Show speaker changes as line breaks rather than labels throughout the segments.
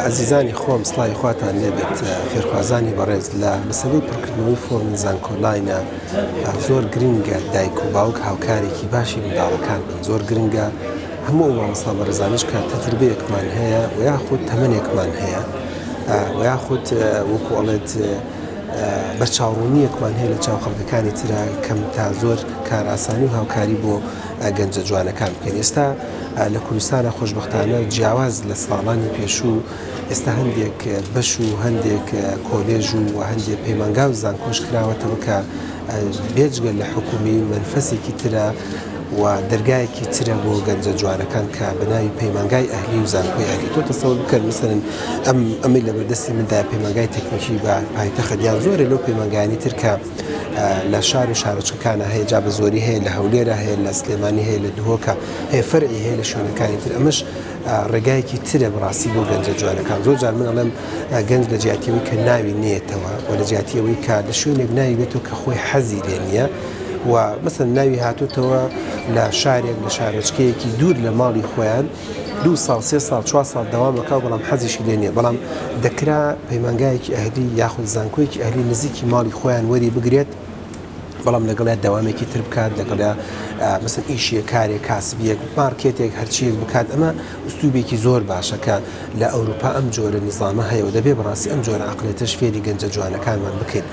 ئەزیزانی خۆم سڵاوی خواتان لێبێت فێرخوازانی بەڕێز لە بەسەبەی پڕکردنەوەی فۆرمی زانکۆلاینە زۆر گرنگە دایک و باوک هاوکارێکی باشی منداڵەکان بن زۆر گرنگە هەموو مامۆستا بەڕێزانش کە تەجروبەیەکمان هەیە و یاخود تەمەنێکمان هەیە و یاخود وەکو ئەڵێت بە چاڕوونیەکمان هەیە لە چاو خەڵکەکانی تررا کەم تا زۆر کارئاسانی و هاوکاری بۆ گەنجە جوانەکان بکەین ئێستا لە کوردستانا خۆشبەختانە جیاواز لە ساڵانی پێشوو ئێستا هەندێک بەش و هەندێک کۆلێژ و هەندێک پەیمانگا و زانکۆش کراوەتەوە کە بێجگە لە حکومی منفەسێکی ترە و دەرگایەکی ترە بۆ گەنجە جوانەکان کە بەناوی پەیمانگای ئەهلی و زانکۆی ئەهلی تۆ تەسەور بکەن مثلن ئەم ئەمەی لە بەردەستی مندا پەیمانگای تەکنیکی بە پایتەخت یان زۆرە لەو پەیمانگایانی ترکە لە شار و شارۆچکەکانا هەیە جا بە زۆری هەیە لە هەولێرا هەیە لە سلێمانی هەیە لە دهۆکە هەیە فەرعی هەیە لە شوێنەکانی تر ئەمەش ڕێگایەکی ترە بڕاستی بۆ گەنجە جوانەکان زۆر جار من ئەڵێم گەنج لە جیاتیەوەی کە ناوی نێتەوە و لە جیاتیەوەی کە لە شوێنێک ناوی بێتەوە کە خۆی حەزی لێ نییە و مەسن ناوی هاتوتەوە لە شارێک لە شارۆچکەیەکی دوور لە ماڵی خۆیان دوو ساڵ سێ ساڵ چوار ساڵ دەوام ئەکا بەڵام حەزیشی لێ نیە بەڵام دەکرا پەیمانگایەکی ئەهلی یاخود زانکۆیەکی ئەهلی نزیکی ماڵی خۆیان وەری بگرێت بەڵام لەگەڵیا دەوامێکی تر بکات لەگەڵیا مەسن ئیشیە کارێک کاسبیەک مارکێتێک هەرچیەک بکات ئەمە ئوستوبێکی زۆر باشەکە لە ئەوروپا ئەم جۆرە نظامە هەیە و دەبێ بەڕاستی ئەم جۆرە عقلێتش فێری گەنجە جوانەکانمان بکەین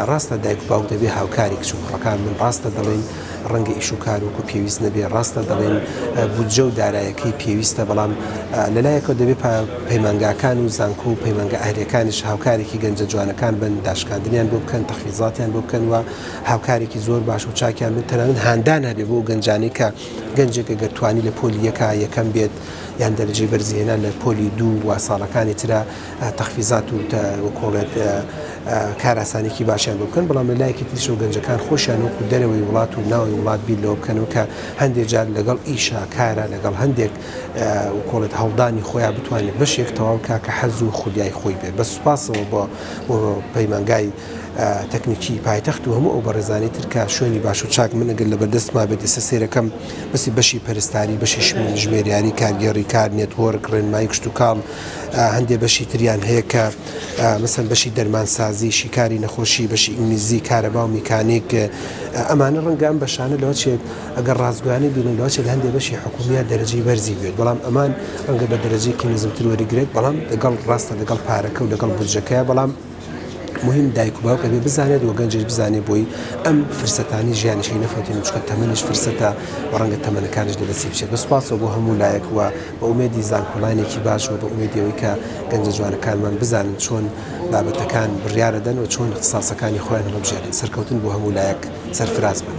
ڕاستە دایک باوک دەبێ هاوکاری کچ و کوڕەکان من ڕاستە دەڵێن ڕەنگە ئیش و کار وەکو پێویست نەبێ، ڕاستە دەڵێن بودجە و دارایەکەی پێویستە، بەڵام لە لایەکەوە دەبێ پەیمانگاکان و زانکۆ و پەیمانگا ئەهلیەکانیش هاوکارێکی گەنجە جوانەکان بن، داشکاندنیان بۆ بکەن، تەحفیزاتیان بۆ بکەن و هاوکارێکی زۆر باش و چاکیان بن، تەنانەت هاندان هەبێ بۆ ئەو گەنجانەی کە گەنجێک گەر توانی لە پۆلی یەکا یەکەم بێت یان دەرەجەی بەرزی هێنا لە پۆلی دوو و ساڵەکانی ترا تەحفیزات و وەک کۆڵێک کاراسانێکی باشیان بۆ بکەن بەڵام لە لایەکی تریشەوە گەنجەکان خۆشیان وەکو دەرەوەی وڵات و ناوی وڵات بیر لەوە بکەنەوە کە هەندێک جار لەگەڵ ئیشا کارە لەگەڵ هەندێک کۆڵێت هەڵدانی خۆیان بتوانێت بەشێک تەواو کا کە حەز و خولیای خۆی بێت بە سوپاسەوە بۆ بۆ پەیمانگای تەکنیکی پایتەخت و هەموو ئەو بەڕێزانانی ترکە شوێنی باش و چاک منەگەر لە بەردەستما بێت ئێستا سێرەکەم بەسی بەشی پەرستاری بەشی ژمێریاری کارگێڕی کار نێتۆرک ڕێنمایی کشتتوکاڵ هەندێ بەشی تریان هەیە کە مەسەن بەشی دەرمانسازی شیکاری نەخۆشی بەشی ئینگلیزی کارەبا و میکانیک ئەمانە ڕەنگام بەشانە لەوە چێت ئەگەر ڕازگویانە بینن لەوە چێت هەندێ بەشی حکومیە دەرەجی بەرزی بێت بەڵام ئەمان ڕەنگە بە دەرەجێکی نزمتر وەرگێت بەڵام دەگەڵ ڕاستە دەگەڵ پارەکە و دەگەڵ بودجەکە بەڵام مهم دایک و باوک ئەبێ بزانێت و گەنجش بزانێت بۆی ئەم فرسەتانی ژیانیشی نەفەوتێن چکە تەمەنیش فرسەتە و ڕەنگە تەمەنەکانش لە دەستی بچێت بە سوپاسەوە بۆ هەموو لایەک و بە ئومێدی زانکۆلاینێکی باش و بە ئومێدیەوەی کە گەنجە جوانەکانمان بزانن چۆن بابەتەکان بڕیارەدەن و چۆن اختساسەکانی خۆیان هەڵبژێرن سەرکەوتن بۆ هەموو لایەک سەرفراز بن.